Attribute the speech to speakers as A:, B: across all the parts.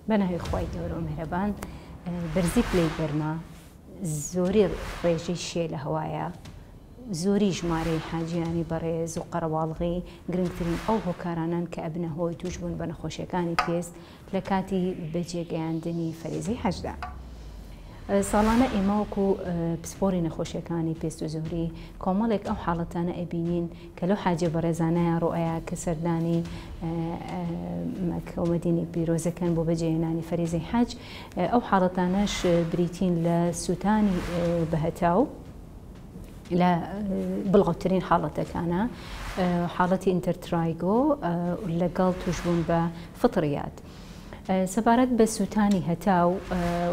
A: بەناوی خوای گەورەو مهرەبان بەرزی پلەی گەرما زۆری ڕێژەی شێ لە هەوایە زۆری ژمارەی حاجیانی بەڕێز و قەرەواڵغی گرنگترین ئەو هۆکارانان کە ئەبنە هۆی توشبوون بە نەخۆشیەکانی پێست لە کاتی بەجێگەیاندنی فەرزی حەجدا. ساڵانە ئێماوەکو پسپۆری نەخۆشیەکانی پێست و زۆری کۆمەڵێک ئەو حاڵەتانە ئەبینین کە لەو حاجیە بەڕێزانەیا ڕوئەیا کە سەردانی مەککە و مەدینەی پیرۆز ئەکەن بۆ بەجێهێنانی فەریزەی حەج، ئەو حاڵەتانەش بریتین لە سوتانی بەهەتاو لە بڵاوترین حاڵەتەکانە حاڵەتی ئینتەرترایگۆ لەگەڵ توشبوون بە فطڕیات. سەبارەت بە سوتانی هەتاو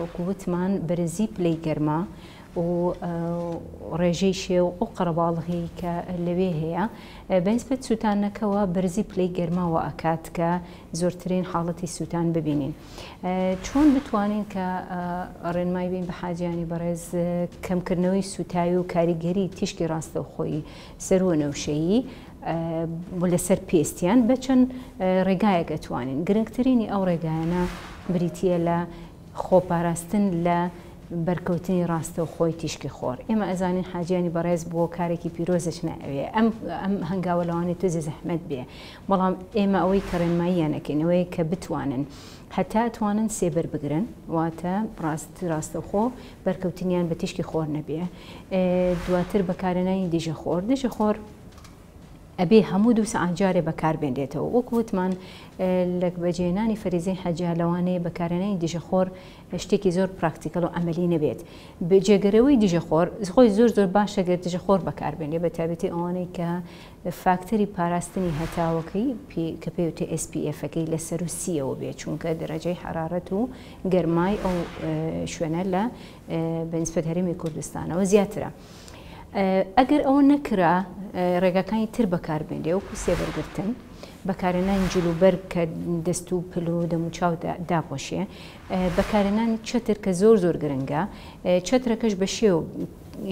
A: وەکو وتمان بەرزی پلەی گەرما، و ڕێژەی شێ و قەڕەباڵغی کە لەوێ هەیە بەنسبەت سووتانەکەوە بەرزی پلەی گەرما وا ئەکات کە زۆرترین حاڵەتی سووتان ببینین چۆن بتوانین کە ڕێنمای بین بە حاجیانی بەڕێز کەمکردنەوەی سووتاوی و کاریگەری تیشکی ڕاستەوخۆی سەروو و نەوشەیی لەسەر پێستیان بە چەند ڕێگایەک ئەتوانین گرنگترینی ئەو ڕێگایانە بریتییە لە خۆپاراستن لە بەرکەوتنی ڕاستەوخۆی تیشکی خۆر. ئێمە ئەزانین حاجیانی بەڕێز بۆ کارێکی پیرۆزەچنە ئەوێ، ئەم ئەم هەنگاوە لەوانەیە توێزی زەحمەت بێ، بەڵام ئێمە ئەوەی کە ڕێنماییان ئەکەین ئەوەیە کە بتوانن هەتا ئەتوانن سێبەر بگرن، واتە ڕاست ڕاستەوخۆ بەرکەوتنیان بە تیشکی خۆر نەبێ. دواتر بەکارهێنانی دژەخۆر، دژەخۆر، ئەبێ هەموو دوو سەعات جارێ بەکار بێنرێتەوە وەکو وتمان لە بەجێهێنانی فەریزەی حەجە لەوانەیە بەکارهێنانی دژە خۆر شتێکی زۆر پراکتیکەڵ و عەمەلی نەبێت جێگەرەوەی دژە خۆر خۆی زۆر زۆر باشە گەر دژە خۆر بەکاربێنێ بە تابێتی ئەوانەی کە فاکتەری پاراستنی هەتاوەکەی کە پێوتێ SPFەکەی لە سەر و سیەوە بێ چونکە دەرەجەی حرارەت و گەرمای ئەو شوێنە لە بە نسبەت هەرێمی کوردستانەوە زیاترە. ئەگەر ئەوە نەکرا ڕێگاکانی تر بەکاربێنێ وەکو سێبەرگرتن بەکارێنانی جل و بەرگ کە دەست و پل و دەموچاو داپۆشێ بەکارێنانی چەتر کە زۆر زۆر گرنگە چەترەکەش بە شێو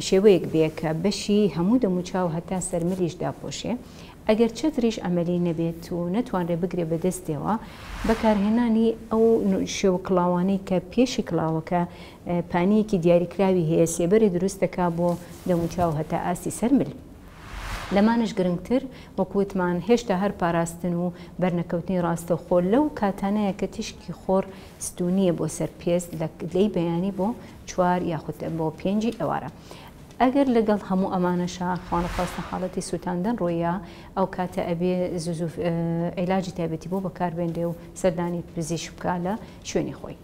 A: شێوەیەک بێ کە بەشی هەموو دەموچاو هەتا سەرملیش داپۆشێ ئەگەر چەتریش عەمەلی نەبێت و نەتوانرێت بگرێت بە دەستیەوە، بەکارهێنانی ئەو شێو کڵاوانەی کە پێشی کڵاوەکە پانییەکی دیاریکراوی هەیە سێبەری دروست دەکات بۆ دەم و چاو هەتا ئاستی سەر مل. لەمانەش گرنگتر وەکو وتمان هێشتا هەر پاراستن و بەرنەکەوتنی ڕاستەوخۆ لەو کاتانەیە کە تیشکی خۆر ستوونییە بۆ سەر پێست لەی بەیانی بۆ چوار یاخود بۆ پێنجی ئێوارە. ئەگەر لەگەڵ هەموو ئەمانەشا خوانەخواستە حاڵەتی سوتاندن ڕوویە ئەو کاتە ئەبێ زوزو عیلاجی تایبەتی بۆ بەکاربێنرێ و سەردانی پزیشک بکا لە شوێنی خۆی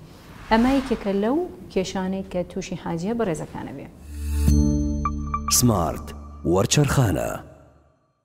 A: ئەمە یەکێکە لەو کێشانەی کە تووشی حاجیە بەڕێزەکانە بێ. سمارت وەرچەرخانە.